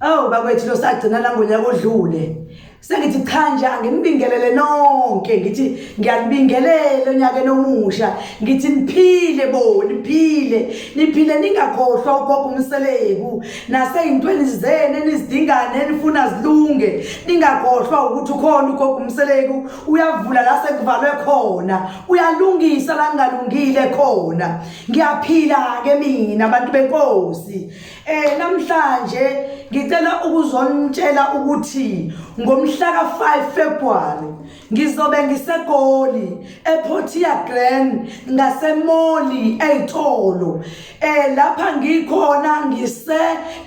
Awu bakwethu lo sagcina la ngonyaka odlule. Sengithi cha nje anginibingelele nonke ngithi ngiyanibingelela onyaka nomusha ngithi niphile bo niphile niphile ningakhohlwa ugogo umseleku naseyintweni zenu enizidingane enifuna zilunge ningakhohlwa ukuthi ukhona ugogo umseleku uyavula la sekuvalwe khona uyalungisa la kungalungile khona ngiyaphila ke mina abantu benkosi Eh namhlanje ngicela ukuzonitshela ukuthi ngomhla ka-5 February ngizobe ngiseGoli ePortia Grand ngaseMoli eYitolo eh lapha ngikhona ngise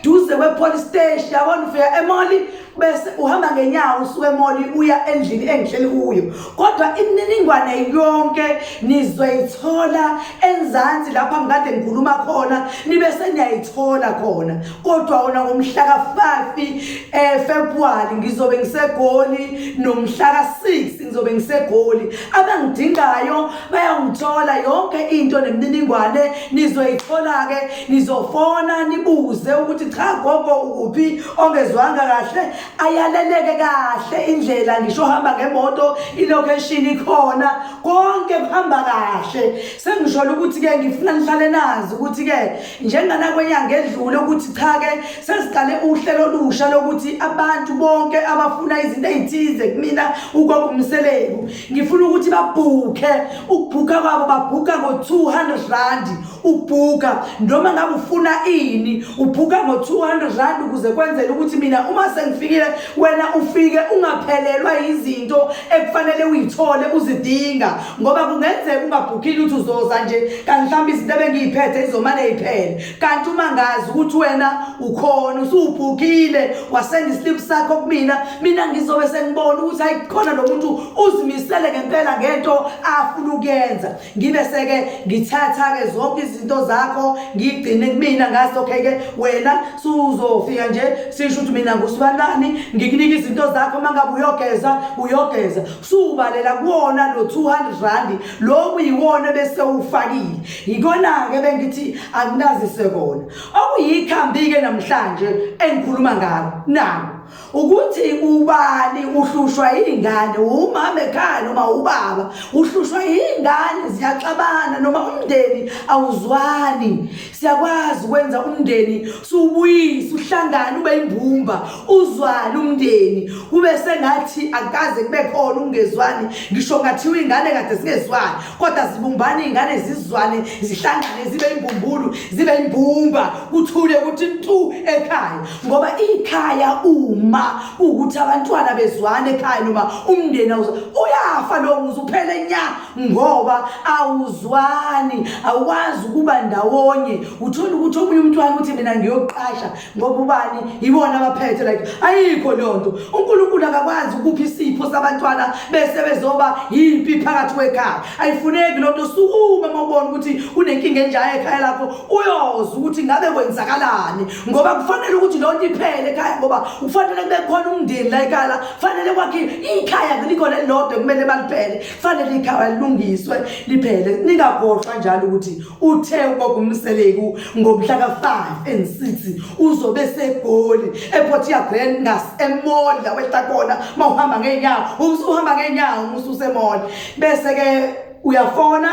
duze kwePolice Station yabona ufika eMoli bese uhamba ngenyawo usuke emoli uya endlini engihleli kuyo kodwa imininingwane yonke nizoyithola enzansi lapho angikade ngikhuluma khona nibe seniyayithola khona kodwa wona ngomhla ka-5 um eh, februwari ngizobe ngisegoli nomhla ka-6 ngizobe ngisegoli abangidingayo bayangithola yonke into nemininingwane nizoyithola-ke nizofona nibuze ukuthi cha gogo ukuphi ongezwanga kahle ayaleleke kahle indlela ngisho hamba ngemoto ilocation ikhona konke kuhamba kahle sengisholo ukuthi ke ngifuna nihlale nazi ukuthi ke njengana kwenyanga edlule ukuthi cha ke sesiqale uhlelo olusha lokuthi abantu bonke abafuna izinto ezithize kumina ukwakungumseleku ngifuna ukuthi babhukhe ukubhuka kwabo babhuka ngo 200 rand ubhuka noma ngabe ufuna ini ubhuka ngo-200 rand ukuze kwenzele ukuthi mina uma sengifikile wena ufike ungaphelelwa yizinto ekufanele uyithole uzidinga ngoba kungenzeka ungabhukile ukuthi uzoza nje kanti mhlawumbe izinto ebengiyiphethe izomane yiphele kanti uma ngazi ukuthi wena ukhona usuwubhukile wasenda isiliphu sakho kumina mina ngizobe sengibona ukuthi hayi khona lo muntu uzimisele ngempela ngento afuna ukuyenza ngibe seke ngithatha-ke zonke izinto zakho ngigcine kumina ngaso okay-ke wena suzofika nje sisho ukuthi mina ngusibanani ngikunika izinto zakho uma ngabe uyogeza uyogeza subalela kuwona lo 200 randi loku yiwona bese ufakile yikona-ke bengithi akunazise kona okuyikhambi-ke namhlanje engikhuluma ngalo nako ukuthi ubani uhlushwa yingane umama ekhaya noma ubaba uhlushwa yingane ziyaxabana noma umndeni awuzwani siyakwazi ukwenza umndeni subuyise uhlangane ube imbumba uzwani umndeni kube sengathi akaze kube khona ukungezwani ngisho ngathiwa ingane kade singezwani kodwa zibumbane iy'ngane zizwane zihlangane zibe imbumbulu zibe imbumba kuthule ukuthi ntu ekhaya ngoba ikhaya uma ukuthi abantwana bezwane ekhaya noma umndeni uyafa lowo muzi uphele nya ngoba awuzwani awukwazi ukuba ndawonye uthole ukuthi omunye umntwana uthi mina ngiyoqasha ngoba ubani yibona abaphethe like ayikho leyo nto unkulunkulu akakwazi ukupha isipho sabantwana bese bezoba yimpi phakathi kwekhaya ayifuneki loo nto sukume uma ubona ukuthi kunenkinga enjaya ekhaya lakho uyoza ukuthi ngabe kwenzakalani ngoba kufanele ukuthi loo nto iphele ekhaya ngoba kufanele kube khona umndeni la ekhaya la kufanele kwakhe ikhaya likhona elilodwa kumele baliphele kufanele ikhaya lilungiswe liphele ningagoqwa njalo ukuthi Uthe ubaba uMseleku ngomhla ka-5 and 6 uzobe eseGoli ePort Grand ngas emall la wehla khona mawuhamba ngeenyawo umsu uhamba ngeenyawo umsu usemall bese ke uyafona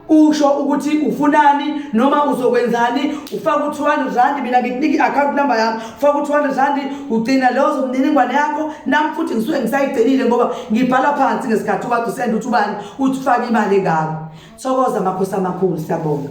usho ukuthi ufunani noma uzokwenzani ufaka u-200 rand mina ngikunika i-account number yami faka u-200 randi ugcina leyo zomniningwane yakho nami futhi ngisuke ngisayigcinile ngoba ngibhala phansi ngesikhathi ukade usenda ukuthi ubani uthi ufake imali engako thokoza makhosi amakhulu siyabonga